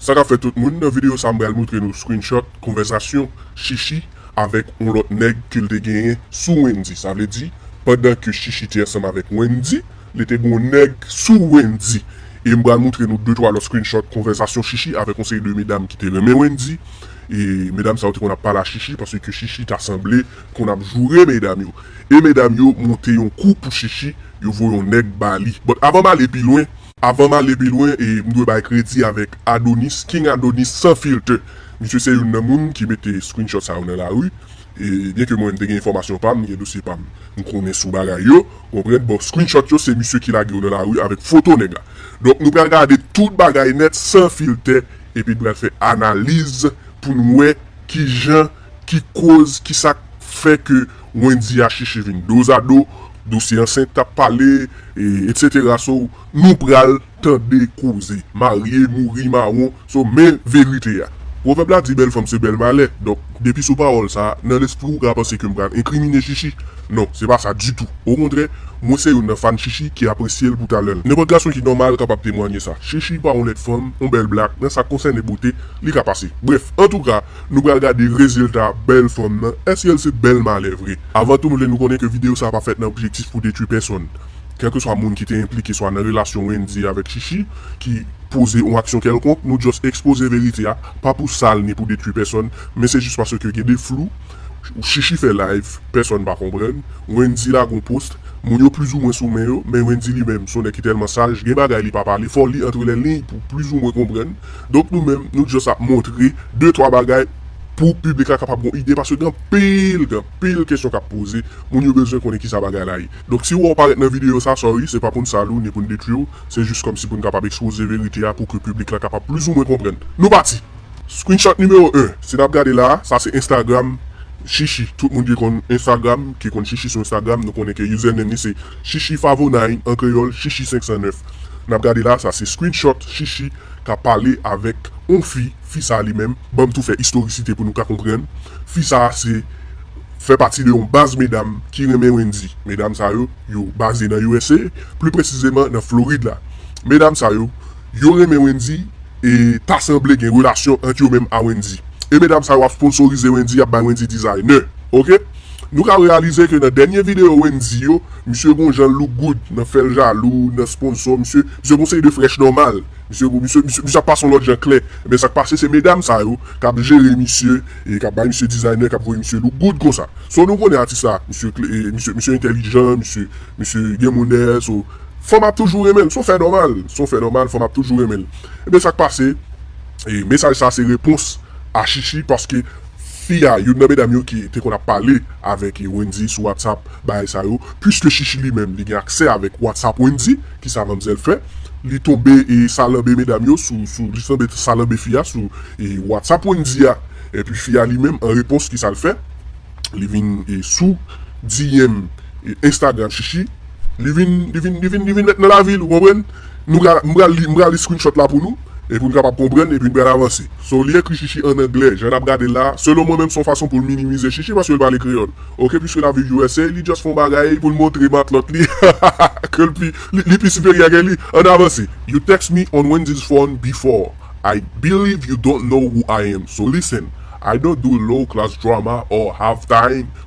Sa kap fè tout moun, nan video sa m pral moutre nou screenshot konvèsasyon Shishi avèk yon lòt nèg ke l te genyen sou Wendy, sa vle di pandan ke Shishi te ansanm avèk Wendy li te gen yon nèg sou Wendy e m pral moutre nou de twa lòt screenshot konvèsasyon Shishi avèk yon seri de medam ki te renmen Wendy e medam sa yo te konn ap pale a Shishi pase ke Shishi ta sanble konn ap joure medam yo e medam yo monte yon kou pou Shishi yo voye yon nèg ba li but avan m ale pi lwen Avan m ale pi lwen, m dwe bay kredi avèk Adonis, King Adonis sans filter. Misye se youn nan moun ki mete screenshot sa yo nan lari. E byen ke mwen m te gen enfòmasyon pa m, m gen dosye pa m, m konnen sou bagay yo, ou konprann, bon screenshot yo se misye ki lage yo nan lari avèk foto nèg la. Donk nou pral gade tout bagay nèt san filtè epi n pral fè analiz pou n wè kijan. ki koz kisak fè ke Wendy a chèche vin dozado, dosye ansent kap pale etc so nou pral tande koze marye mouri mawon so men verite a pwovèb la di bèl fanm se bèl malè donk depi sou pawòl sa nan lespri ou ka panse ke m pral enkrimine Chichi non se pa sa ditou okontrè mwen se youn nan fan Chichi ki apresye l pou talè l nenpòt gason ki nòmal kapab temwanye sa Chichi pa yon lèd fanm yon bèl blak nan sa konsène bote li ka pase brèf antouka Nou pral gade rezilta bèl fanm nan, èske l se bèl malè vre? Avan tou m vle nou konnen ke videyo sa pa fèt nan objektif pou detwi pèsonn, kèlkeswa moun ki te enplike swa nan relasyon Wendyy avèk Chichi ki poze yon aksyon kèlkonk, nou just ekspoze verite a, pa pou sal ni pou detwi pèsonn, men se jis paske gen de flou, Chichi fè live, pèsonn pa konprann, Wendyy lage yon post, moun yo plizoumwen sou men yo, men Wendyy li menm s on nèg ki tèlman saj, gen bagay li pa pale, fò w li antre lè liy pou w plizoumwen konprann. Donk nou menm nou just ap montre de twa bagay pou piblik la kapab gon ide paske gen anpil gen anpil kesyon kap poze moun yo bezwen konnen kisa bagay la ye donk si ou wè ou parèt nan videyo sa sorry se pa poun sal ou ni poun detwi ou se jis kòmsi poun kapab ekspoze verite a pou ke piblik la kapab plis ou mwen konprann nou pati. Screenshot numéro 1 si nap gade la sa se Instagram Shishi tout moun ki konn Instagram ki konn Shishi sou Instagram nou konnen ke username li se Shishi Favonine an kreyòl Shishi 509 nap gade la sa se screenshot Shishi ka pale avèk on fi, fi sa li menm, banm tou fè istorisite pou nou ka konprann, fi sa se fè pati de on baz medam ki renmen Wendyy, medam sa yo, yo baze nan usa, pli presizeman nan Florid la, medam sa yo, yo renmen Wendyy e ta sanble gen relasyon ant yo menm a Wendyy, e medam sa yo ap sponsorize Wendyy, ap bay Wendyy designer, ok. Nou ka reyalize ke nan dènye video Wendyy yo, misye gon jan look good nan fèl jalou nan sponsor misye, misye gon seri de frèch nòmal, misye ap pase yon lòt jan klè, ebyen sak pase se medam sa yo kap jere misye e kap bay misye designer kap voye misye look good konsa. So nou konnen atis la, misye entèlijan, misye gen monè, so fanm ap toujou renmenl, son fè nòmal, son fè nòmal fanm ap toujou renmenl. Ebyen sak pase e mesaj sa se repons a Shishi paske. Fi a, youn nan medam yo ki te konn ap pale avèk Wendyy sou WhatsApp, bagay sa yo, puiske Chichi li menm li gen aksè avèk WhatsApp Wendyy, ki sa manmzèl fè? Li tonbe salanbe medam yo sou, sou, li tonbe salanbe fi a sou WhatsApp Wendyy a. Epi fi a li menm an repons ki sa l fè? Li vin sou DM Instagram Chichi, li vin, li vin, li vin, li vin mèt nan lavi l, ou konprann? Nou ka, m pral li, m pral li screenshot la pou nou. e pou n kapab konprann epi n pral avanse. So w li ekri Shishi an anglè jan n ap gade l la, selon mwen menm s on fason pou l minimize Shishi paske l pale kreyòl. Ok piske l ap viv usa li just fè on bagay pou l montre matlòt li ke l pi li pi siperyè ke li. Ann avanse. You text me on Wendy's phone before, I believe you don't know who I am, so listen, I don't do low class drama or have time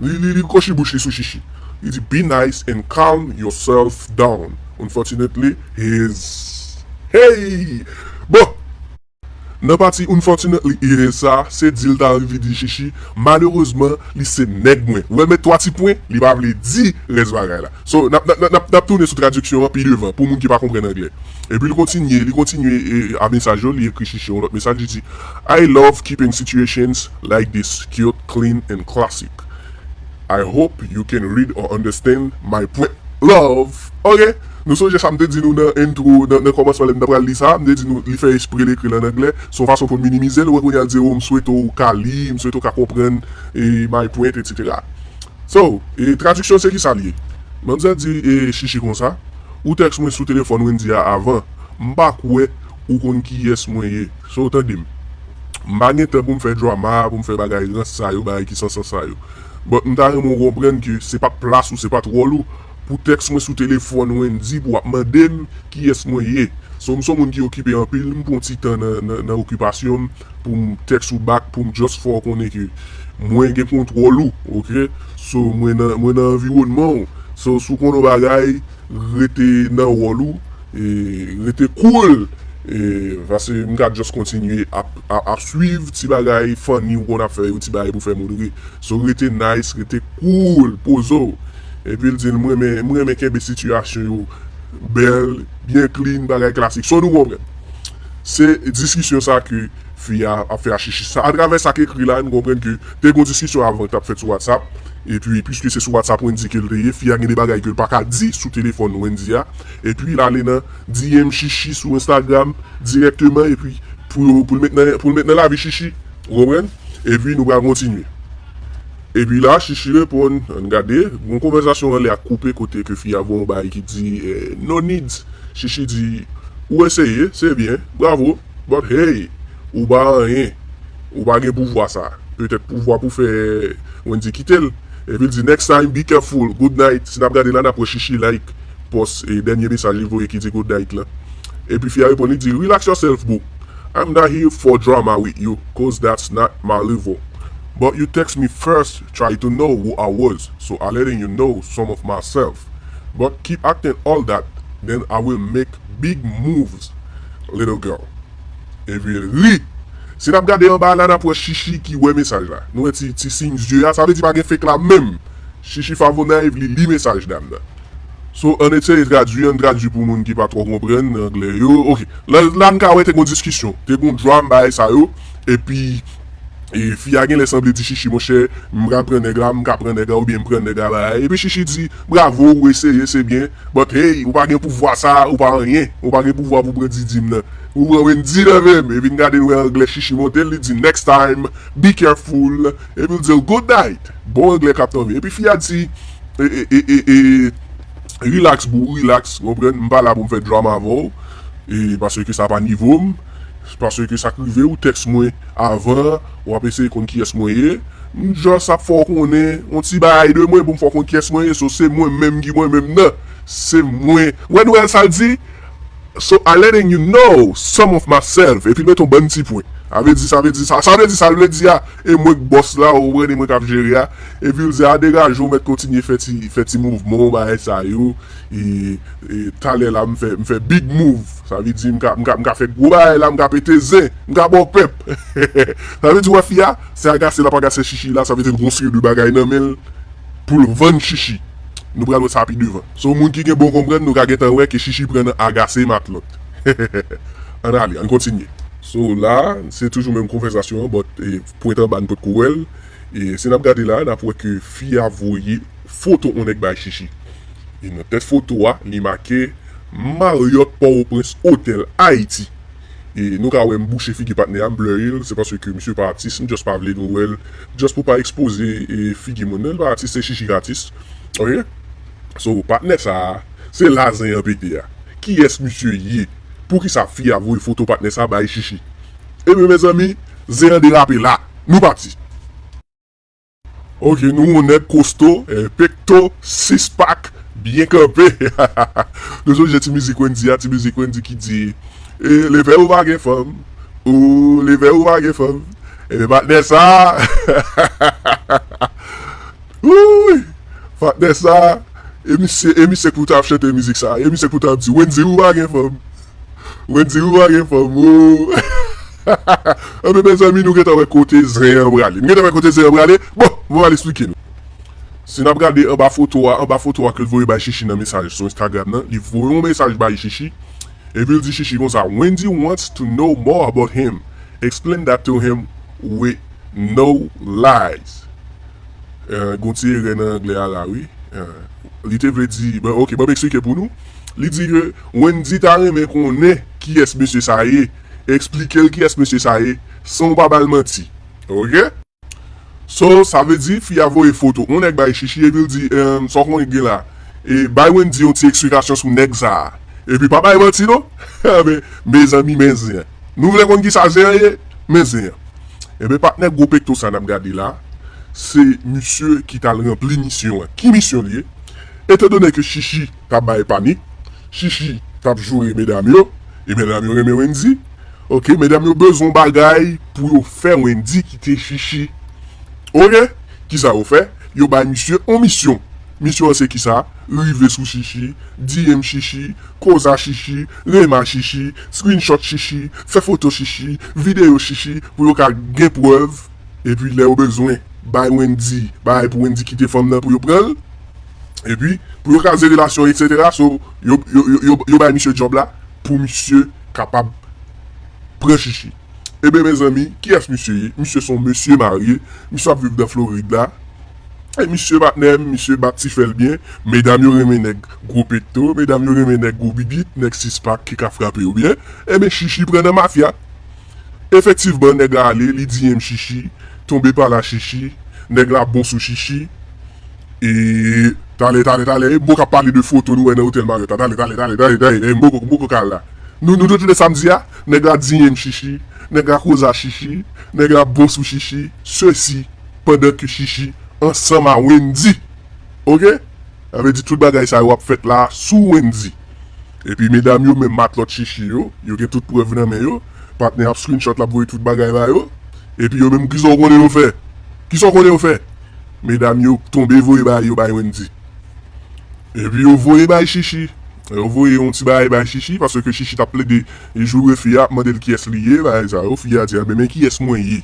Li kwochi bouch li sou Shishi. Li di, Be nice and calm yourself down. Unfortunately, he is Hey! Bon! Nan pati unfortunately, he is sa, se di l ta anvi di Shishi, Malerezman, li se nèg mwen. Ou wè met 3 ti pwen? Li pa vle di rès bagay la. So, n ap, n ap, n ap tounen sou tradiksyon an pi devan pou moun ki pa konprann anglè. Epi l kontinye, li kontinye a mesaj yo, li ekri Shishie yon lòt mesaj, li di, I love keeping situations like this cute, clean and classic. I hope you can read or understand my point. Love! Ok! Nou sonje sa m te di nou nan intro, nan kòmansman lè m ta pral li sa a, m te di nou li fè espre l ekri l an anglè, se yon fason pou l minimize l, wè kounye a l di, oh, m swete w ka li, m swete w ka konprann my point, etc. So, e tradiksyon se kisa l ye? Manzè di e Shishi konsa, Ou tèks mwen sou telefòn Wendy a avan, m pa kwè ou konn kiyès mwen ye. So, tande m. M pa gen tan pou m fè drama, pou m fè bagay rans sa yo, bagay ki san sans sa yo. But m ta renmen ou konprann ke se pa t plas ou, se pa t wòl ou pou tèks mwen sou telefòn Wendy pou w ap mande m kiyès mwen ye. So, m s on moun ki okipe anpil, m pran yon ti tan nan okipasyon m. poum text ou back poum just fè w konnen ke mwen gen kontwòl ou ok so mwen nan mwen nan anviwònman w so si w konnen yon bagay rete nan wòl ou e rete cool e pase m ka just kontinye ap ap swiv ti bagay funny ou konn ap fè yo ti bagay pou fè moun ri so rete nice rete cool poze w epi l di m renmen m renmen kenbe sitiyasyon yo bèl byen clean bagay klasik so nou konprann. Se diskisyon sa ke fi a ap fè a Chichi. Sa atravè sa k ekri la nou konprann ke te gon diskisyon avan ki t ap fèt sou WhatsApp. Epi piske se sou WhatsApp Wendy ke l te ye, fi a gen de bagay ke l pa ka di sou telefòn Wendy a. Epi l ale nan DM Chichi sou Instagram dirèkteman epi pou yo pou l met nan pou l met nan lavi Chichi. Ou konprann? Epi nou pral kontinye. Epi la Shishi reponn, ann gade, gon konvèzasyon anlè ak koupe kote ke fi a voye yon bagay ki di, No needs! Shishi di, Ou eseye, se byen, bravo, but hey! Ou pa anyen. Ou pa gen pouvwa sa. Petèt pouvwa pou fè Wendy kite l. Epi l di, Next time, be careful! Good night! Si n ap gade la, n ap wè Shishi like pòs, dènye mesaj li voye ki di good night lan. Epi fi a reponn, li di, Relax yourself, boo! I'm not here for drama with you coz that's not my level but you text me first try to know who I was so I letting you know some of myself but keep acting all that then I will make big moves little girl Evi ri Si nap gade anba a la nap wè Shishi ki wè mesaj la Nou wè ti siy zye a sa vle di pa gen fake la menm Shishi Favona Evi li mesaj dam nan. So ann eseye tradui, ann tradui pou moun ki pa twò konprann anglè yo. Ok, la la n ka wè te gen yon diskisyon, te gen yon dram bagay sa yo. Epi fi a genlè sanble di Shishi monchè m ka pran nèg la, m ka pran nèg la oubyen m pran nèg la bagay. Epi Shishi di bravo ou eseye se byen but hey ou pa gen pouvwa sa a, ou pa anyen, ou pa gen pouvwa pou pran Didi m nan. Ou pran Wendy nan men m. Epi n gade n wè anglè Shishi monte l li di next time, be careful epi l di l good night. Bon anglè kap tanvi. Epi fi a di e relax boo relax ou konprann m pa la pou m fè drama avè w e paske sa pa nivo m paske sa k rive ou tèks mwen avan w ap eseye konn kiyès mwen ye m just ap fè w konnen on ti bagay de mwen pou m fè w konn kiyès mwen ye so se mwen menm ki mwen menm nan se mwen wè Noel sa l di so I letting you know some of myself epi l mete on bann ti pwen sa vle di sa vle di sa sa vle di sa l vle di a. E mwen k bòs la ou konprann e mwen kap jere a epi ou di a degaje ou mèt kontinye fè ti fè ti mouvman w bagay sa yo e talè la m fè m fè big mouv sa vle di m ka m ka m ka fè gwo bagay la m ka pete zen m ka ba w pèp sa vle di wè fi a se agase lap agase chichi la sa vle di l gen yon seri de bagay nan men l pou l vann chichi nou pral wè sa pi devan so moun ki gen bon konprann nou ka gentan wè ke chichi pran nan agase matlòt ann ale ann kontinye. So la se toujou menm konvèzasyon an but pwent anba nou potko wèl e si nap gade la nap wè ke fi a voye foto on nèg bay Shishi e nan tèt foto a li make Marriott Port-au-Prince Hotel Haiti e nou ka wè m bouche figi patnè a m blurry l se paske misye pa atis m just pa vle nou wèl just pou pa ekspoze figi moun nan li pa atis se Shishi k atis ok so patnè sa se la zen an pete a kiyès misye ye. Poukisa fi a voye foto patnè sa bay shishi. Ebyen mezanmi zen an derape la nou pati. Ok nou yon nèg kosto pekto sis pak byen kanpe nou sonje ti mizik wendy a ti mizik wendy ki di leve ou pa gen fanm ooh leve ou pa gen fanm ebyen patnè sa. Wouuyy patnè sa e misye e misye k pou tap chante mizik sa e misye k pou tap di Wendy ou pa gen fanm Wendy ou pa gen fanm ooh anben mezanmi nou gentan wè kote zen an prale nou gentan wè kote zen an prale bon mwen pral esplike nou si nap gade anba foto a anba foto a ke l voye bay Shishi nan mesaj sou Instagram nan li voye yon mesaj bay Shishi epi l di Shishi konsa Wendy wants to know more about him explain that to him with no lies Gon ti erè nan anglè a la wi. Li te vle di, ok banm eksplike pou nou. Li di ke Wendy ta renmen konnen kiyès mesye sa ye. Eksplikel kiyès mesye sa ye san ou pa bal manti. Ok. So sa vle di fi a voye foto on nèg bay Shishi epil di sa w konnen ki gen la. E bay Wendy yon ti eksplikasyon sou nèg sa. Epi pa bay manti non. Mezanmi men zen. Nou vle konn kisa zen an ye? Men zen an. Enben patnè gwo pekto sa nap gade la, se misye ki tal ranpli misyon an. Ki misyon li ye? Etan done ke Shishi ta bay panik, Shishi tap joure medam yo, e medam yo renmen Wendy, ok, medam yo bezwen yon bagay pou yo fè Wendy kite Shishi. Ok, kisa yo fè? Yo bay misye yon misyon. Misyon an se kisa? Rive sou Shishi, DM Shishi, koza Shishi, rema Shishi, screenshot Shishi, fè foto Shishi, videyo Shishi pou yo ka gen prèv epi lè yo bezwen bay Wendy bagay pou Wendy kite fanm nan pou yo pranl epi pou yo kraze relasyon etc so yo yo bay misye job la pou misye kapab pran Shishi eben mezanmi kiyès misye ye? Misye son mesye marye misye ap viv nan Floride la Hey misye patnèm misye bat ti fèl byen medam yo renmen nèg gwo pekto medam yo renmen nèg gwo bibit nèg sis pak ki ka frape yo byen enben shishi pran nan mafya efektivman nèg la ale li di em shishi tonbe pa la shishi nèg la bon sou shishi e talè talè talè e m poko ap pale de foto nou wè nan otèl marriott la talè talè talè talè talè m poko m poko ka al la nou nou retounen sa m di a nèg la di em shishi nèg la koza shishi nèg la bon sou shishi sesi pandan ke Shishi ansanm a Wendy ok sa vle di tout bagay sa yo ap fèt la sou Wendy epi medam yo menm matlòt Shishi yo yo gen tout prèv nan men yo patnè ap screenshot lap voye tout bagay ba yo epi yo menm kisa w konnen yo fè kisa w konnen yo fè medam yo tonbe voye bagay yo bay Wendy epi yo voye bay Shishi yo voye yon ti bagay bay Shishi paske Shishi tap plede joure fi a ap mande l kiyès li ye bagay sa yo fi a di a men kiyès mwen ye.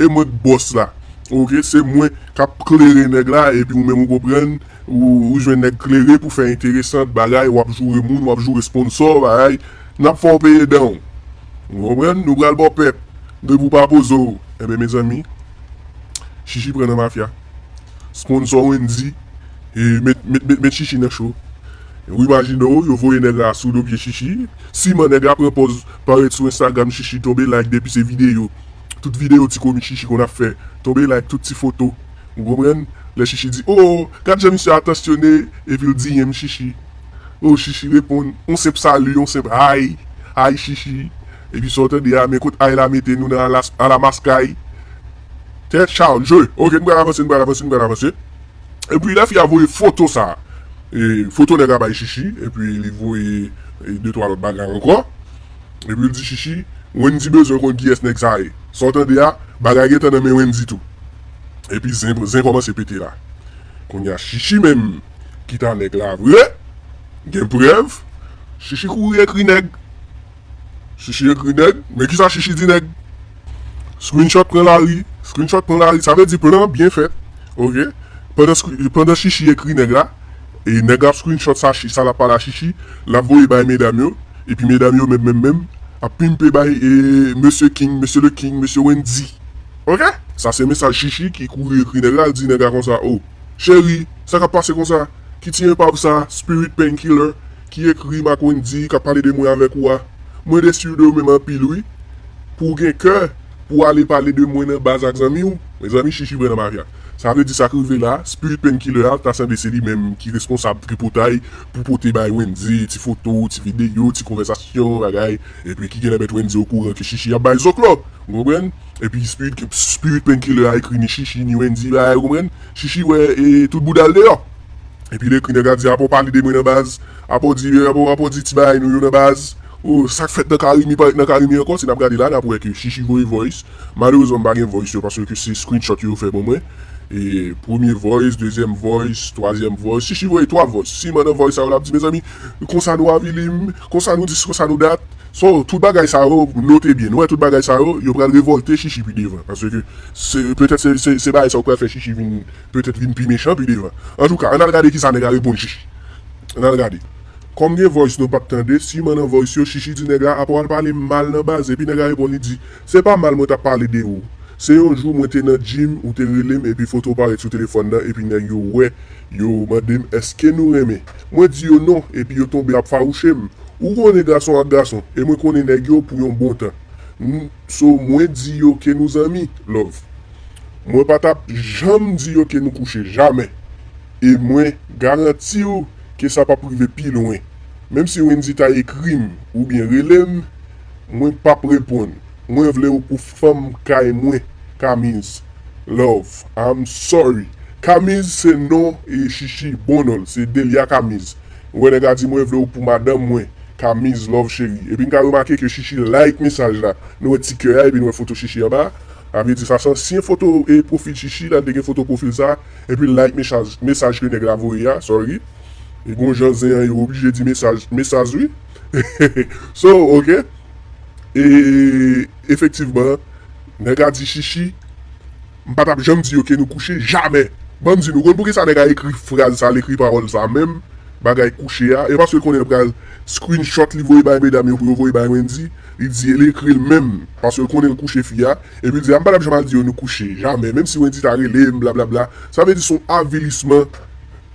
e mwen k bòs la ok se mwen kap klere nèg la epi ou menm ou konprann ou jwenn nèg klere pou fè enteresant bagay wap joure moun wap joure sponsor bagay nap fè w peye danw ou konprann nou pral baw pèp depi w pa poze w enben mezanmi chichi pran nan mafya sponsor wendy met chichi nan cho ou imajine w yo voye nèg la sou do pye chichi siman nèg la pran pòz parèt sou instagram chichi tonbe like depi se video. tout video ti komik shishi konn ap fè tonbe like tout ti foto ou konprann lè shishi di oo gad jan misye atansyone epil di him shishi oo shishi reponn yon senp salut yon senp hi hi shishi epi sa ou tande a men kot hi la mete nou nan alamaskay tè charge ok nou pral avanse nou pral avanse nou pral avanse epi lè fi a voye foto sa foto nèg la bay shishi epi li voye de twa lòt bagay ankò. Epi l di Shishi, Wendy bezwen konn kiyès nèg sa ye. Sa w tande a, bagay gen tan nan men Wendy tou. Epi zen zen kòmanse pete la. Kounye a Shishi menm ki ta nèg la vre, gen prèv, Shishi kouri ekri nèg. Shishi ekri nèg, men kisa Shishi di nèg. Screenshot pran lari, screenshot pran lari, sa vle di plan byen fèt, ok, pandan screen pandan Shishi ekri nèg la. E nèg la ap screenshot sa chi sa lap pale a chichi lap voye bay medam yo epi medam yo menm menm menm ap pimpe bay mesye king mesye le king mesye wendy ok. Sa se mesaj chichi ki kouri ekri nèg la al di nèg la konsa oh cheri sa kap pase konsa ki ti enpav sa spirit pain killer ki ekrim ak wendy kap pale de mwen avèk ou a mwen desi de ou menm anpil wi pou gen kè pou ale pale de mwen nan baz ak zanmiw mezanmi chichi vrè nan mafya. Sa vle di sak rive la, spirit painkiller a ta sanble se li menm ki responsab tripotay pou pote bay Wendy ti foto, ti videyo, ti konvèsasyon, bagay, epi ki genlè met Wendy okouran ke Shishi ap bay zoklo! Ou konprann? Epi spirit painkiller a ekri ni Shishi ni Wendy bagay ou konprann? Shishi wè e tout bouda l deyò! Epi l ekri nèg la di apaw pale de mwen nan baz, apaw di apaw di ti bagay nou yo nan baz, oh sak fèt nan Carimi pa ret nan Carimi ankò, si nap gade la nap wè ke Shishi voye voice Malerezman m pa gen voice yo paske se screenshot yo fè pou mwen e premye voice dezyèm voice twazyèm voice shishi voye 3 voice siman nan voice sa yo lap di mezanmi konsa nou avili m konsa nou dis konsa nou dat so tout bagay sa yo note byen nou wè tout bagay sa yo yo pral revolte shishi pi devan paske se petèt se bagay sa yo k pral fè shishi vin petèt vin pi mechan pi devan antouka ann al gade kisa nèg la reponn shishi ann al gade kòm gen voice nou pap tande siman nan voice yo shishi di nèg la apaw al pale m mal nan baz epi nèg la reponn li di. Se pa mal mwen tap pale de ou. Se yon jou mwen te nan gym ou te relem epi fotow parèt sou telefòn nan epi nèg yo wè yo mandem eske nou renmen mwen di yo non epi yo tonbe ap fawouchem ou konnen gason ak gason e mwen konnen nèg yo pou yon bon tan n so mwen di yo ke nou zanmi love mwen pa tap janm di yo ke nou kouche jamè e mwen garantiw ke sa pap rive pi lwen menm si Wendy ta ekrim oubyen relem Mwen pap reponn mwen vle ou pou fanm kay mwen kamiz love I'm sorry kamiz se non shishi bon nonl se delia kamiz ou wè nèg la di mwen vle ou pou madanm mwen kamiz love cheri epi nou ka remake ke shishi like mesaj la nou wè ti kè a epi nou wè foto shishi anba sa vle di sa se ansyen foto profil shishi la li te gen foto profil sa epil like mesaj ke nèg la voye a sorry e gon jan zen an yo oblije di mesaj mesaj wi. So ok e efektivman nèg la di shishi m pa tap janm di yo ke nou kouche jamè banm di nou konn poukisa nèg la ekri fraz sa l ekri pawòl sa menm bagay kouche a e paske l konnen l pral screenshot li voye bay medam yo pou yo voye bay Wendy li di li ekri l menm paske l konnen l kouche fi a epi l di a m pa tap janm al di yo nou kouche jamè menm si Wendy ta rele m blablabla sa vle di son avilisman.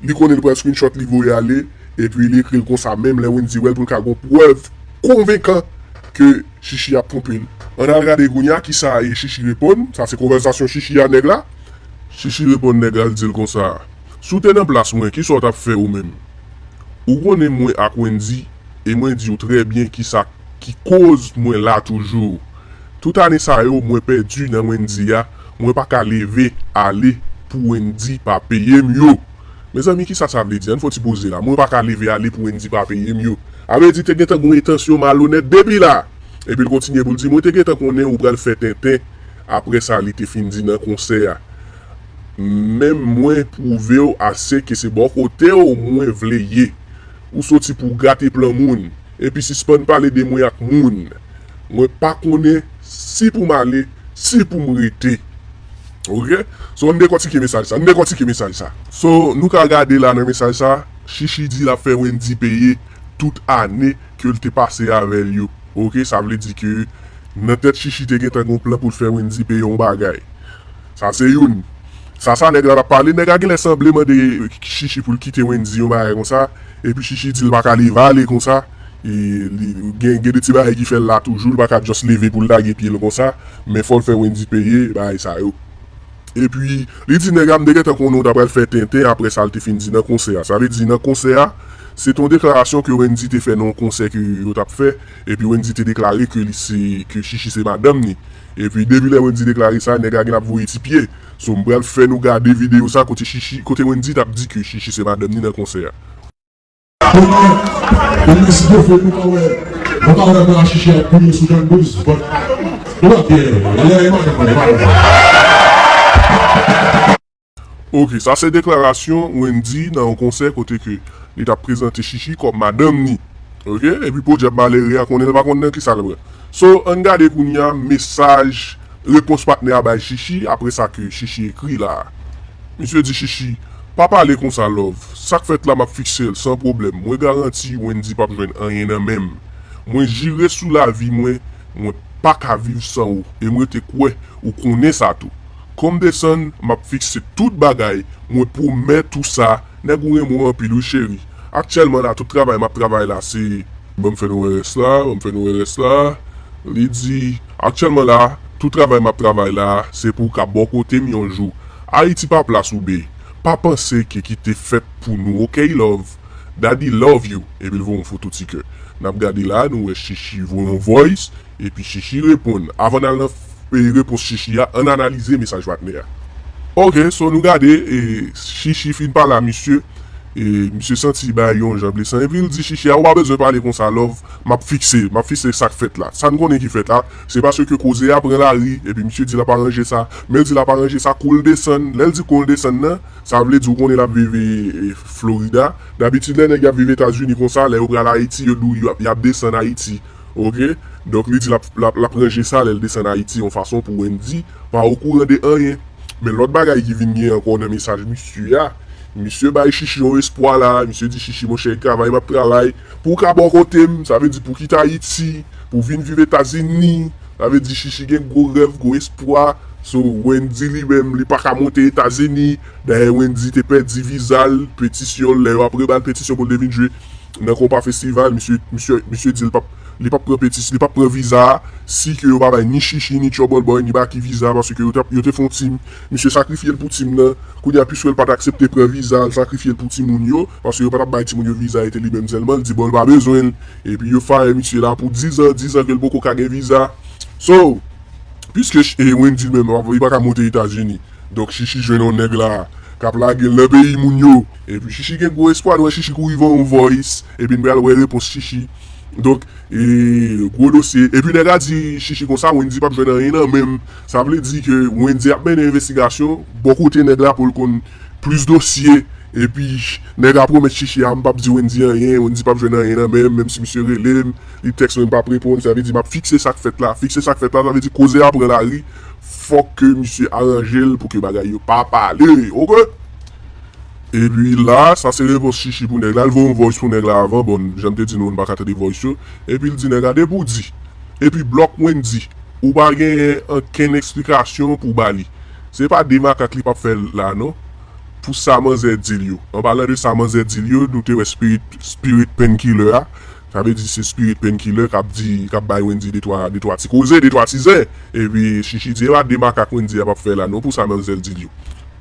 Li konnen li pral screenshot li voye ale epi li ekril konsa menm lè Wendy wèl poul ka gon prèv konvenkan ke Shishi ap twonpel. Ann al gade kounya kisa Shishi reponn, sa se konvèsasyon Shishi a nèg la. Shishi reponn nèg la li dil konsa, si w te nan plas mwen kisa w tap fè ou menm? Ou konnen mwen ak Wendy e mwen diw trè byen kisa ki koz mwen la toujou. Tout ane sa yo mwen pèdi nan Wendyy a mwen pa ka leve ale pou Wendyy pa peye m yo Mezanmi kisa sa vle di ann fon ti poze la mwen pa ka leve ale pou Wendyy pa peye m yo a vle di te gentan gon entansyon malonèt depi la epi l kontinye pou l di mwen te gentan konnen ou pral fè tenten aprè sa li te fin di nan konsè a menm mwen pwouve w ase ke se bò kote w mwen vle ye ou soti pou w gate plan moun. Epi sispann pale de mwen ak moun mwen pa konnen si pou m ale si pou m rete ok so ann dekòtike mesaj sa ann dekòtike mesaj sa. So nou ka gade la nan mesaj sa Shishi di lap fè Wendy peye tout ane ke l te pase avè l yo ok sa vle di ke nan tèt Shishi te gentan gon plan pou l fè Wendy peye yon bagay sa se youn sa sa nèg la tap pale nèg la genlè sanble mande Shishi pou l kite Wendy yon bagay konsa. Epi Shishi di l pa ka leve ale konsa, gen de ti bagay ki fè l la toujou, l pa ka just leve pou l lage pye l konsa, men fò l fè Wendy peye bagay sa yo. Epi li di nèg la m te gentan konnen w ta pral fè tenten aprè sa l te fin di nan konsè a. Sa vle di nan konsè a, se te yon deklarasyon ke Wendy te fè nan yon konsè ke yo t ap fè, epi Wendy te deklare ke li se, ke Shishi se madanm li. Epi depi lè Wendy deklare sa nèg la gen ap voye ti pye, so m pral fè nou gade video sa kote Shishi, kote Wendy tap di ke Shishi se madanm ni nan konsè a. Koman Yon mesye fè nou pa wè nou pa wè bra Shishi ap boule sou Jan 12 but Nou pap gen lè madanm mwen e madanm mwen. Ok, sa se deklarasyon Wendyy nan yon konsè kote ke li tap prezante Shishi kòm madanm ni. Ok, epi podyab malere a konnen l pa konn nan kisa l pran. So, ann gade kounye a mesaj repons patnè a bay Shishi apre sa ke Shishi ekri la a. Misye di Shishi, Pa pale konsa love, sak fèt la map fikse l san pwoblèm, mwen garanti Wendyy pap jwenn anyen nan men m. Mwen jire sou lavi mwen, mwen paka viv san ou e m rete kwè ou konnen sa tou. Kòm desann map fikse tout bagay mwen pwomèt ou sa nèg ou renmen w anpil wi cheri aktyèlman la tout travay map travay la se banm fè nou wè rès la banm fè nou wè rès la li di aktyèlman la tout travay map travay la se pou w ka bò kote m yon jou ayiti pa plas ou bby pa panse ke ki te fèt pou nou ok love daddy love you epi l voye yon foto ti kè nap gade la nou wè chichi voye yon voice. Epi Shishi reponn. Avan n al nan repons Shishi a, ann analize mesaj patnè a. Ok, so nou gade, Shishi fin pale a misye, misye santi bagay yo yon jan blesan, epi l di Shishi a, ou pa bezwen pale konsa love, m ap fikse, m ap fikse sa k fèt la. Sa n konnen ki fèt la, se paske koze a pran lari, epi misye di l ap aranje sa. Men l di l ap aranje sa kou l desann. Lè l di kou l desann nan, sa vle di ou konnen l ap viv Florida. Dabitid lè nèg y ap viv Etazini konsa, lè yo pral Ayiti, yo di w y ap desann Ayiti. ok donk li di lap lap ranje sa lèl desann ayiti yon fason pou Wendy pa okouran de anyen men lòt bagay ki vin gen ankò nan mesaj misye a misye bay Shishi yon espwa la misye di Shishi monchè travay map travay pou w ka bò kotem sa vle di pou w kite ayiti pou w vin viv etazini sa vle di Shishi gen gwo rèv gwo espwa sou Wendy li menm li paka monte etazini dayè Wendy te pèdi vizal petisyonl lè yo ap rebal petisyonl pou l te vin jwe. Nan konpa festival misye misye di li pap li pap pran petis li pap pran viza si ke yo pa bay ni shishi ni trouble boy ni baky viza paske yo tap yo te fon team misye sakrifyel pou team nan kounya pwiskel pat aksepte pran viza l sakrifyel pou timoun yo paske yo patap bay timoun yo viza e te li menm sèlman l di bon l pa bezwenl epi yo fire misye la pou 10 ans 10 ans kel poko ka gen viza so pwiske wendyy menm li paka monte etazini. Donk Shishi jwenn yon nèg la kap lagel nan peyi moun yo. Epi Shishi gen gwo espwa nou wè Shishi kouri voye yon voice epi n pral wè repons Shishi donk gwo dosye epi nèg la di Shishi konsa Wendy pap jwenn anyen nan menm sa vle di ke Wendy ap mennen envestigasyon bò kote nèg la poul konn plis dosye epi nèg la pwomèt Shishi a m pap di Wendy anyen Wendy pap jwenn anyen nan menm menm si misye relem li tèks mwen m pap reponn sa vle di map fikse sak fèt la fikse sak fèt la sa vle di koze a pran lari. fòk ke misye aranje l pou ke bagay yo pa pale ok epi la sa se repons chichi pou nèg la l voye yon voice pou nèg la avan bon janm te di nou nou paka tande voice yo epi l di nèg la depi w di epi blòk wendy ou pa genyen ankenn eksplikasyon pou w ba li se pa de makak li pap fè la non pou sa manzè di l yo anpalan de sa manzè di l yo nou te wè spirit spirit painkiller a. Sa vle di se spirit painkiller kap di kap bay Wendy de twa de twa ti koze de twa ti zen epi Shishi di epa de makak Wendy ap ap fè la non pou sa Manzèl dil yo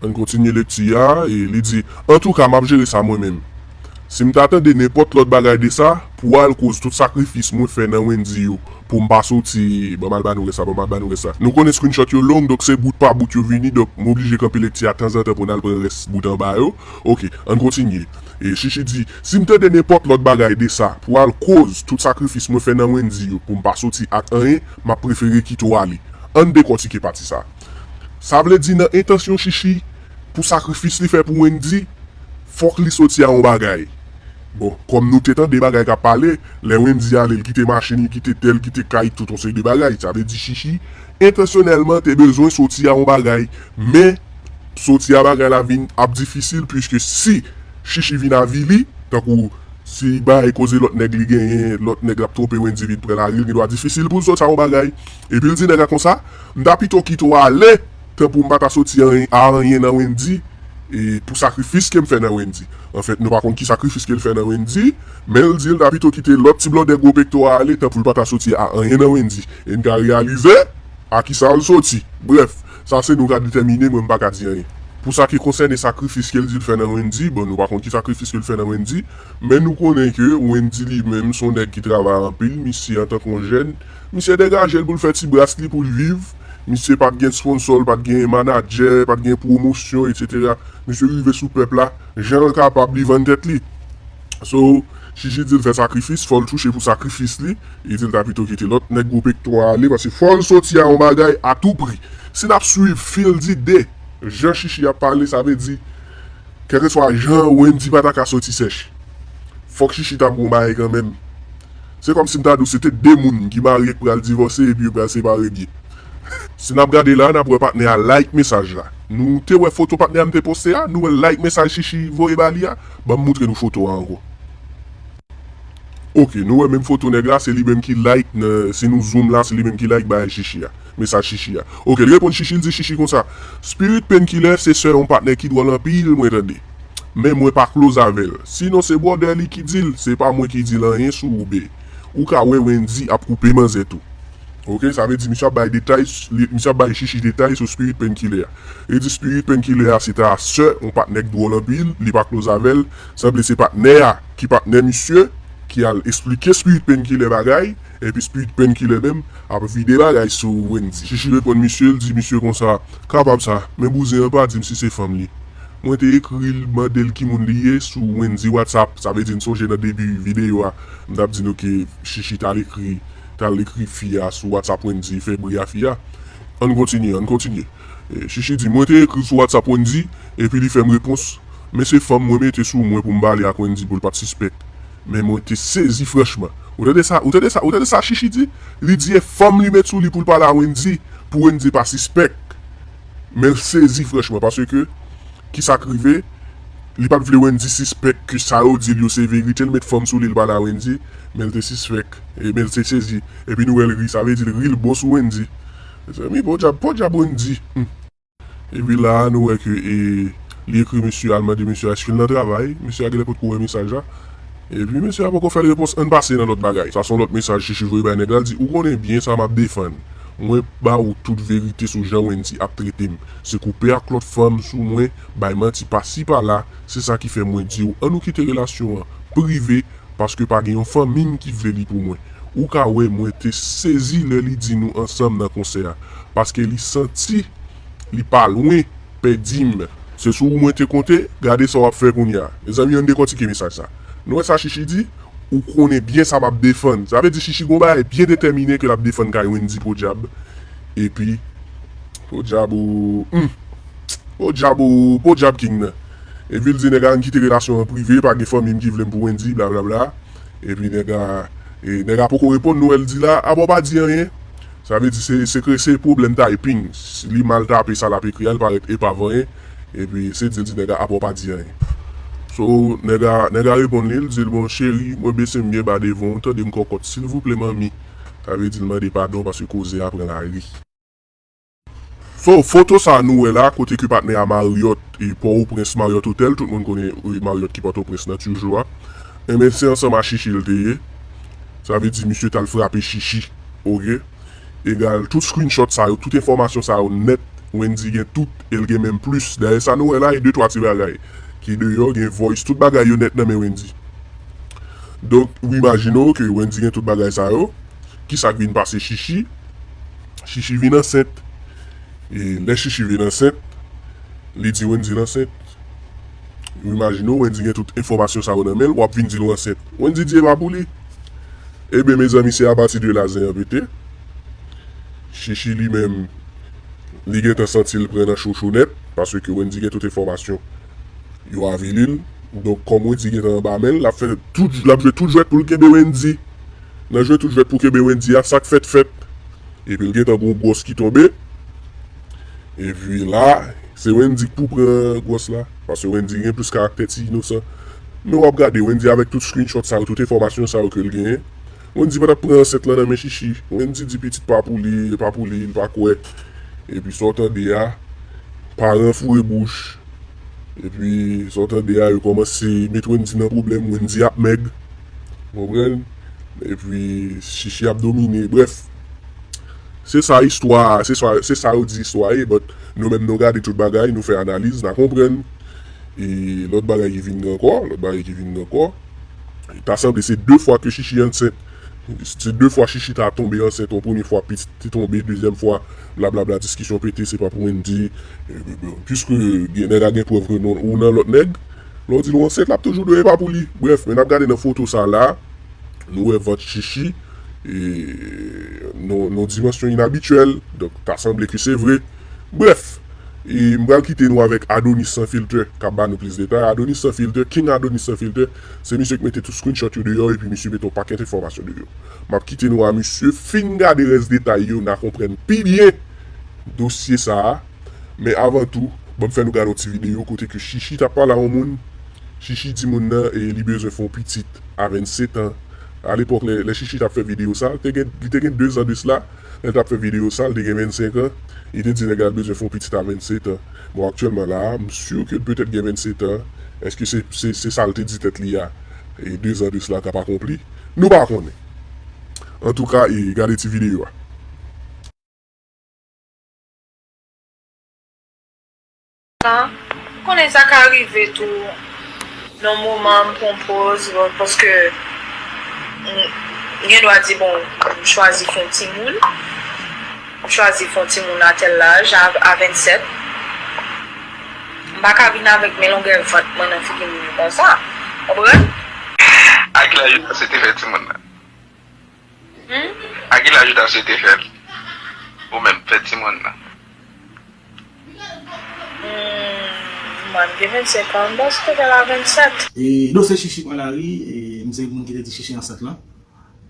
ann kontinye lekti a e li di antouka map jere sa mwen menm sim ta tande nenpòt lòt bagay de sa pou al koz tout sakrifis mwen fè nan Wendy yo poum pa soti banm al ba nou rès la banm al ba nou rès la nou konnen screenshot yo long donk se bout pa bout yo vini donk m oblije kanpe lekti a tanzantan poun al pran rès bout anba yo ok ann kontinye e Shishi di. Si m tande nenpòt lòt bagay de sa pral koz tout sakrifis mwen fè nan Wendyy yo pou m pa soti ak anyen m ap prefere kite w ale. Ann dekòtike pati sa. Sa vle di nan entansyon Shishi pou sakrifis li fè pou Wendyy fòk li soti a yon bagay. Bon, kòm nou te tande bagay k ap pale lè Wendyy ale l kite machin li kite tè l kite kay tout yon seri de bagay sa vle di Shishi Entansyonèlman te bezwen soti a yon bagay men soti a bagay la vin ap difisil puiske si Shishi vin avili tankou si li bay koze lòt nèg li genyen lòt nèg lap twonpe yon endivid pran lari l gen dwa difisil pou l soti a yon bagay epi l di nèg la konsa m ta pito kite w ale tan pou m pa ta soti a anyen nan Wendy pou sakrifis ke m fè nan Wendy anfèt nou pa konn ki sakrifis ke l fè nan Wendy. Men l di l ta pito kite lòt ti blòdè gwo pekto a ale tanpou l pa ta soti a anyen nan Wendy e n ka reyalize a kisa l soti. Brèf, sa se nou k a detèmine mwen m pa ka di anyen. Pou sa ki konsène sakrifis ke l di l fè nan Wendy, bon nou pa konn ki sakrifis ke l fè nan Wendy, men nou konnen ke Wendy li menm s on nèg ki travay anpil, misye antan k on jèn, misye degaje l pou l fè ti bras li pou l viv, misye pa t gen sponsò, l pa t gen manadjè, pa t gen pwomosyon, etsetera. Misye rive sou pèp la jan l kapab li vann tèt li. So Shishi dil fè sakrifis fòl touche pou sakrifis li li dil ta pito kite lòt nèg gwo pekto a ale paske fòl soti a yon bagay a tou pri si nap swiv fil di de jan Shishi ap pale sa vle di kèlkeswa jan Wendy pata ka soti sèch fòk Shishi ta pran yon bagay kanmenm se kòm sim ta diw se te de moun ki marye ki pral divòse epi yo pral separe byen. Si nap gade la nap wè patnè a like mesaj la. Nou te wè foto patnè a m te poste a nou wèl like mesaj Shishi voye ba li a. Banm moutre nou foto a ankò. Ok nou wè menm foto nèg la se li menm ki like nan si nou zoom la se li menm ki like bagay shishi a mesaj shishi a ok li reponn shishi li di shishi konsa spirit penkiller se sè yon patnè ki dwòl anpil mwen tande men mwen pa close avèl si non se brother li ki dil se pa mwen ki dil anyen sou ou bby ou ka wè Wendy ap koupe manzè tou. Ok sa vle di misye ap bay detay misye ap bay shishi detay sou spirit painkiller a li di spirit painkiller a se ta sè yon patnè k dwòl anpil li pa close avèl sanble se patnè a ki patnè misye ki al esplike spirit painkiller bagay epi spirit painkiller menm ap vide bagay sou Wendy shishi reponn misye l di misye konsa kapab sa men bouzen an pa dim si se fanm li mwen te ekri l mandel ki moun li ye sou Wendy whatsapp sa vle di n sonje nan debi video a m tap di nou ke shishi t al ekri Tal ekri fi a sou whatsapp wendy fè bri a fi a ann kontinye ann kontinye chichi di mwen te ekriw sou whatsapp wendy epi li fèm repons men se fanm mwen mete sou mwen poum pale ak wendy poul pat sispèk men mwen te sezi franchman ou tande sa ou tande sa ou tande sa chichi di li di e fanm li met sou li poul pale a wendy pou wendy pa sispèk menl sezi franchman paske Kisa k rive? Li pat vle Wendy sispèk ke sa yo di l yo se verite, l met fanm sou li l pale a Wendy, men l te sispèk, men l te sezi, epi nou wè l ri, sa vle di l ri l bon sou Wendy. Mezanmi podyab, podyab Wendy! Humm. Epi la a nou wè ke li ekri mesye a, l mande mesye a eske l nan travay, mesye a genlè potko wè mesaj la, epi mesye a poko fè l repons ann pase nan lòt bagay, sa son lòt mesaj Chichi voye bay nèg la, l di ou konnen byen sa m ap defann, mwen ba ou tout verite sou jan Wendy ap trete m. Se koupe ak lòt fanm sou mwen, bay manti pasi pala, se sa ki fè mwen diw an nou kite relasyon an prive paske pa gen yon fanmim ki vle li pou mwen. Ou ka wè mwen te sezi lè li di nou ansanm nan konsè a paske li santi li pa lwen pèdim. Se sou ou mwen te konte, gade sa wap fè kounya. Mezanmi ann dekòtike mesaj sa. Nou wè sa Shishi di, ou konnen byen sa map defann. Sa vle di Shishi gon bagay byen detèmine ke lap defann kay Wendy podyab. Epi podyab ou humm podyab ou podyab king nan Epi l di nèg a ann kite relasyon an prive pa gen fanmi m ki vle m pou Wendyy blablabla Epi nèg a e nèg a poko reponn nou wè l di la a bon w pa di anyen Sa vle di se se kre se pwoblèm typing si li mal tape sa l ap ekri a li parèt epav anyen Epi se di l di nèg a a bon w pa di anyen So nèg a nèg a reponn li l di l bon cheri mwen bese m byen ba devan w tande m kòkòt silvouple manmi. Sa vle di l mande padon paske koze a pran lari. So, foto sa nou wè la kote ke patnè a Marriott e Port-au-Prince Marriott Hotel, tout moun konnen Marriott ki Port-au-Prince nan tuju a, enben se ansanm a Shishi l te ye, sa vle di misye t al frape Shishi ok, egal tout screenshot sa yo, tout enfòmasyon sa yo nèt Wendyy gen tout e l gen menm plis, dayè sa nou wè la e de twa ti bagay ki deyò gen voice tout bagay yo nèt nan men Wendyy. Donk ou imajine w ke Wendy gen tout bagay sa yo, ki sa k vin pase Shishi? Shishi vin ansent. E lè Shishi vin ansent, li di Wendy l ansent. Ou imajine w Wendy gen tout enfòmasyon sa yo nan men l, w ap vin di l w ansent. Wendy di e pa pou li. Eben mezanmi se apati de la zen an pete. Shishi li menm, li gen tan santi l pran nan chochonèt, paske Wendy gen tout enfòmasyon. Yo avili l, donk kòm Wendyy gentan anba men l, l ap fè tout, l ap jwe tout jwèt pou l kenbe Wendyy. Nan jwe tout jwèt pou kenbe Wendyy a, sa k fèt fèt. Epi l gentan gen yon gwòs ki tonbe. Epi la, se Wendyy k pou pran gwòs la. Paske Wendyy gen plis karaktè ti inosan. Men w ap gade Wendyy avèk tout screenshot sa yo, tout enfòmasyon sa yo ke l genyen. Wendy patap pran ansent lan nan men Shishi Wendy di pitit pa pou li e pa pou li li pa kwè epi sa w tande a paran foure bouch epi sa w tande a yo kòmanse met Wendy nan pwoblèm Wendy ap mèg ou konprann epi Shishi ap domine brèf se sa istwa a se sa yo di istwa a ye but nou menm nou gade tout bagay nou fè analiz na konprann e lòt bagay ki vin gen ankò lòt bagay ki vin gen ankò. Ta sanble se 2 fwa ke Shishi ansent, se 2 fwa Shishi ta tonbe ansent, yon premye fwa pitit te tonbe, dezyèm fwa blablabla diskisyon pete se pa pou Wendy, puiske gen nèg a gen prèv ke non ou nan lòt nèg, lè w di l ou ansent lap toujou di w e pa pou li, brèf men nap gade nan foto sa la nou wè vant Shishi nan yon dimansyon inabityèl donk ta sanble ke se vre. Brèf, m pral kite nou avèk Adonis Sans Filter k ap ba nou plis detay. Adonis Sans Filter, King Adonis Sans Filter, se misye ki mete tout screenshot yo deyò epi misye mete yon pakèt enfòmasyon deyò. M ap kite nou a misye, fin gade rès detay yo n a konprann pi byen dosye sa a. Men avan tou, ban m fè nou gade yon ti videyo kote ke Shishi t ap pale a yon moun. Shishi di moun nan li bezwen fè yon pitit a 27 an. Alepòk lè Shishi t ap fè videyo sa, li te gen dezan de sla. Lè tap fè video sa l te gen 25 ans li te di nèg la bezwen fè yon pitit a 27 ans bon aktyèlman la a m sur ke l petèt gen 27 ans èske se se sa l te di tèt li a 2 zan de sla tap akonpli nou pa konnen antouka e gade ti video a. Konnen sa ka rive tou nan moman m pran poz mwen paske m gen dwa di bon m chwazi fon timoun m chwazi fon timoun a tèl laj a 27 m pa ka vin avèk men longè vant mwen nan figi moun yo konsa ou konprann. A ki laj ou panse te fè timoun nan? A ki laj ou ta swete fèl ou menm fèt timoun nan? Humm mwen m gen 25 ans m panc ke fèl a 27. Edo se chichi pran lari e m se moun ki te di chichi ansent lan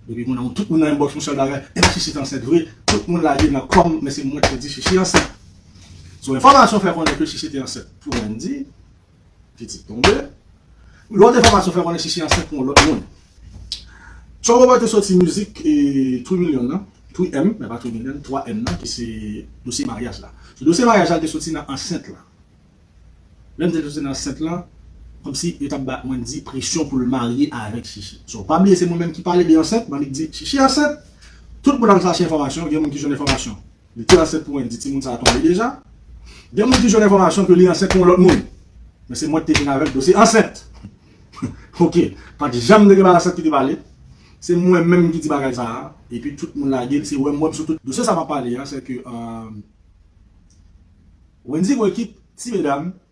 depi moun an tout moun nan yon bòks yon sèl bagay epa chichi t ansent vre tout moun lage nan kò m men se mwen ki te di chichi ansent so enfòmasyon fè konnen ke chichi te ansent pou Wendy. Pitit tonbe. Lòt enfòmasyon fè konnen Chichi ansent pou yon lòt moun. Tchon Robert te soti mizik Twi Milyon nan, Twi M, men pa Twi Milyon, 3 M nan ki se dosye maryaj la. Sou dosye maryaj la, l te soti nan ansent lan. Lè l te soti nan ansent lan, kòmsi yo t ap ba Wendy presyon pou l marye avèk Chichi. So, pa bliye se mwen menm ki pale de ansent, m annik di Chichi ansent. Tout moun al chache enfòmasyon, gen moun ki jwenn enfòmasyon. Li te ansent pou Wendy, timoun sa tonbe deja. Gen moun ki jwenn enfòmasyon ke li ansent pou yon lòt moun. Men se mwen ki te vin avèk dosye ansent. Ok, pa t janm te gen Barassat ki te pale. Se mwen menm ki di bagay sa a. Epi tout moun lage l, se wè m wè m sou tout. Dosye sa m ap pale a, se ke Wendy voye kit ti medam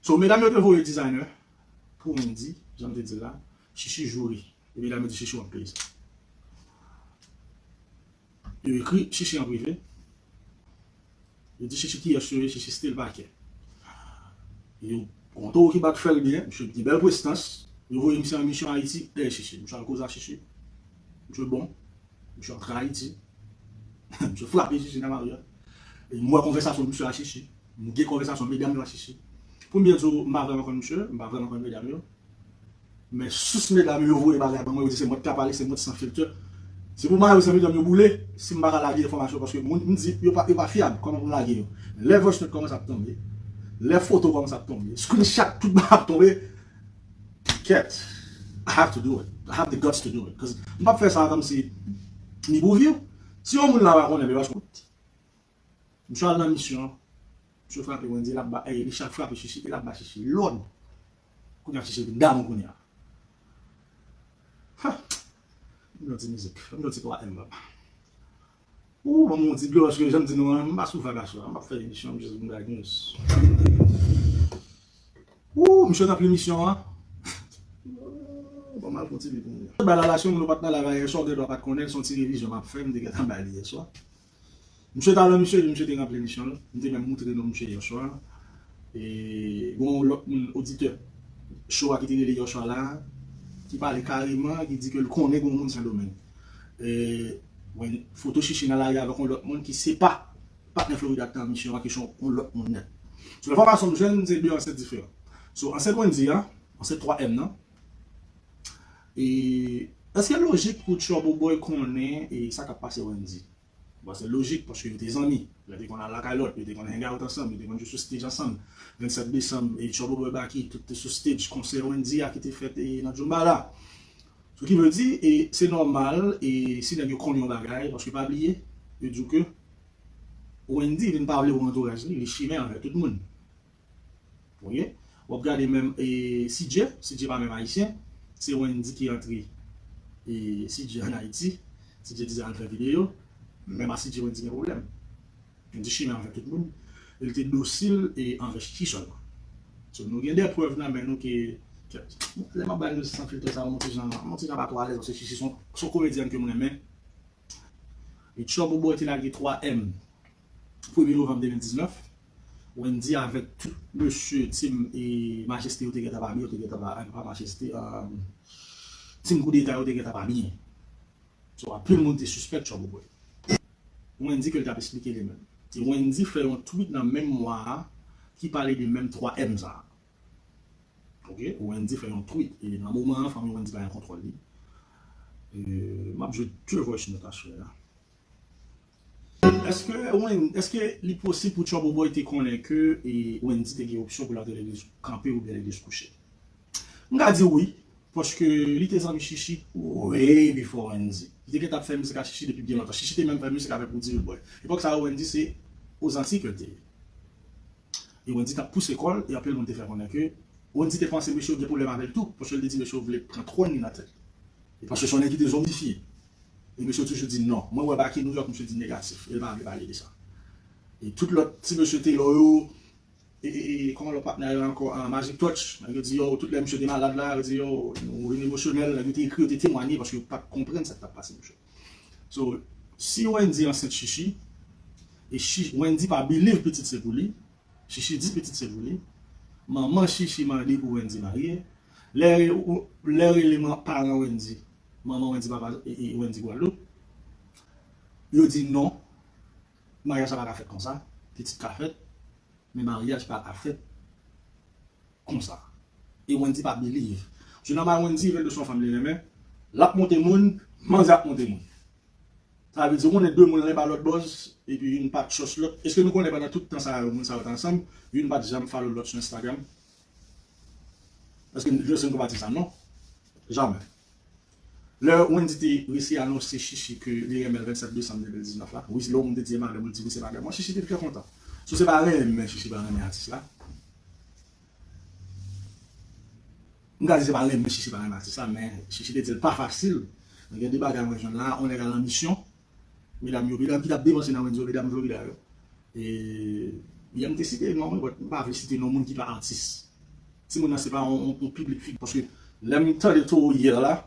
So medam yo te voye designer pou Wendy janm te dil la, Shishi joure e medam yo di Shishi wap peye sa. Yo ekri Shishi an prive, yo di Shishi kiyes yo ye, Shishi still pa kè. Yo Yon towo ki bat fèl byen, misye gen bèl prestans, yo voye misye an misyon Ayiti, eh Shishi, misye al koze a Shishi, misye bon. Misye antre Ayiti. Misye frape Shishi nan lari a. M wè konvèsasyon misye ak Shishi. M gen konvèsasyon medam yo ak Shishi. Pou m byen di w, m pa vrèman konn misye, m pa vrèman konn medam yo. Men sous medam yo voye bagay ban mwen, yo di se mwen ki ka pale, se mwen ki san filter. Se pou mayo san medam yo boule, si m pa ka lage enfòmasyon paske moun m di yo pa fyab, kòman pou m lage yo. Lè voice note kòmanse ap tonbe, lè foto kòmanse ap tonbe, screenshot tout bagay ap tonbe. Kèt, I have to do it, I have the guts to do it cause m pap fè sa kòmsi ni pou view. Si yon moun la pa konnen Belos Rood, misye al nan misyon, misye frape Wendy lap ba ey misye ap frape Shishi e lap ba Shishi lòd. Kounya Shishi vin damou kounya. Huh! Banm yon ti mizik, banm yon ti 3 M papa. Ooh banm yon ti dlo paske janm di nou an m pa sou vag aswè an map fè emisyon an m just vin bay news ooh misye nan plimisyon an ooh banm al fon ti pi pou moun yo bay lala siw nou pat nan live la yèswa ou gen dwa pat konnen son ti revizyon map fè m te gentan bay li yèswa misye talan misye di misye te ranpli emisyon l m te menm moutre nou misye yèswa e gon yon lòt moun oditè show a ki te rele yèswa la ki pale kareman ki di ke l konnen gon moun sendomeng. wè foto Shishie nan lari avèk yon lòt moun ki se pa patnè Florida ki te avèk misye an ki se yon lòt moun nèt. Selon enfòmasyon m jwenn se 2 ansèt diferan. So ansèt Wendyy an, ansèt 3 èm nan, e èske lojik pou Trouble Boy konnen sa k ap pase Wendyy? Bon, se lojik paske yo te zanmi. Yo te konn al lakay lòt, yo te konn hangout ansanm, yo te konn jwe sou stage ansanm. 27 desanm, Trouble Boy Baky, tout te sou stage. Konsè Wendyy a ki te fèt nan Djoumbala. Sou ki vle di, se nòmal si nèg yo konn yon bagay paske pa bliye, yo di w ke Wendyy vin pa vle wè antouraj li, li chimè avèk tout moun. Ok wap gade menm e CJ, CJ pa menm ayisyen se Wendy ki antre e CJ an ayiti CJ di al fè video menm a CJ Wendy gen pwoblèm li te chimè anvè tout moun e li te dosil e anvè Chichi sèlman so nou gen de prèv nan men nou ke lè map bay nou san filtè sa yo nou tijan nou tijan pa twò alèz paske Chichi son son komedyèn kem renmen e Tchòbouboi te lage 3 èm premye novanm 2019. Wendy avèk tout mesye team majeste yo te gentan pa byen yo te gentan pa pa majeste team koudeta yo te gentan pa byen so anpil moun te sispèk tchòboukwen Wendy ke l tap esplike li menm. Wendy fè yon tweet nan menm mwa a ki pale de menm 3 M sa ok Wendy fè yon tweet e nan moman an fanmi Wendy pa gen kontwòl li map jwe 2 voice note a chè a. Eske Wendy, eske li posib pou Trouble Boy te konnen ke Wendy te gen opsyon pou l ap gen legliz kanpe oubyen legliz kouche? M ka di wi, paske li te zanmi Shishi way before Wendy. Li te gentan ap fè mizik ak Shishi depi byen lontan. Shishi te menm fè mizik avèk Roody Leboy. Epòk sa yo Wendy se o Zantiy ke l te ye. E Wendy t ap pouse kò l e anpil moun te fè konnen ke Wendy te panse mesye yo gen pwoblèm avè l tou, paske l te di mesye yo vle pran twòn li nan tèt li. E paske se yon nèg ki te zonbifye. e mesye toujou di non mwen wè Baky Nouyòk misye di negatif el pa vle pale de sa e tout lòt ti mesye Telor yo e e e kòman lòt patnè a yo ankò an Magic Touch nèg yo di yo tout lè misye te malad la yo di yo nou vin emosyonèl nèg yo te ekri yo te temwanye paske yo pat konprann sak tap pase mesye so si Wendy ansent Shishi e shi Wendy pa biliv pitit se pou li Shishi di pitit se pou li manman Shishi mande pou Wendy marye lè lè rele man paran Wendy Manman Wendy papa Wendy Guadeloupe yo di non maryaj sa paka fèt konsa pitit ka fèt men maryaj paka fèt konsa e Wendy pa believe sou nan bay Wendy Wendy son fanm li renmen lap monte moun manzè ap monte moun sa vle di ou konnen 2 moun l'un pa lòt bòz epi youn pa chòs lòt eske nou konnen pandan tout tan sa yo moun sa yo t ansanm youn pat janm follow lòt sou Instagram. Eske m jwe sou yon kou pati sa? Non. Jamè. Lè Wendy te resi anonse Shishi ke li renmen l 27 desanm 2019 la, wi lè yon moun te di e madèm ou, li di wi se madèm mwen, Shishi te trè kontan. So se pa renmen Shishi pa renmen atis la. M ka di se pa renmen Shishi pa renmen atis la men Shishi te di l pa fasil. Gen de bagay mwen jwenn la, yon nèg al an misyon, Medam yo medam ki tap devanse nan Wendyy yo medam Florida yo e yè m te site non but m pa vle site non moun ki pa atis timoun nan se pa yon piblik figi paske lè m tande toro hier la